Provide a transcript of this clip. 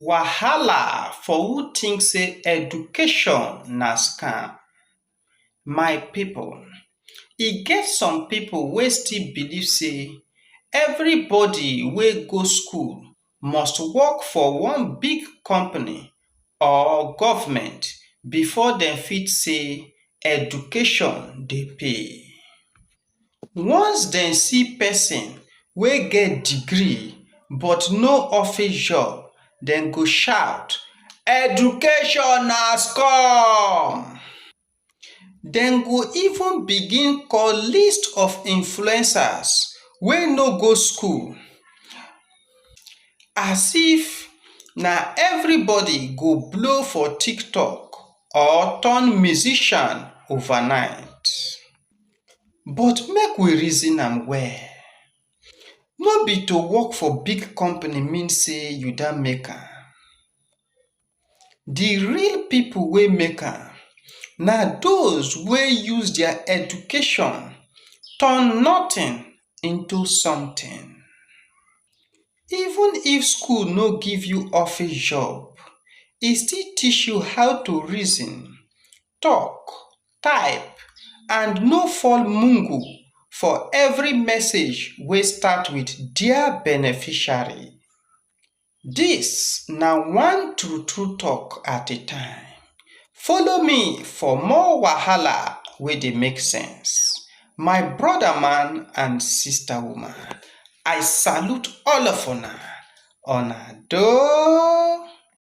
Wahala for who think sey education na scam. My pipu, e get some pipu wey still believe sey everybody wey go school must work for one big company or government before dem fit sey education dey pay. once dem see person wey get degree but no office job dem go shout “education na scum!” dem go even begin call list of influencers wey no go school as if na everybody go blow for tiktok or turn musician overnight. But make we reason am well, no be to work for big company mean sey you don make am. De real pipu wey make am na those wey use their education turn nothing into something. Even if school no give you office job, e still teach you how to reason, talk, type and no fall mugu for every message wey start with dear beneficiary. This na one true true talk at a time. Follow me for more wahala wey dey make sense. My brother man and sister woman, I salute all of una. Una doh!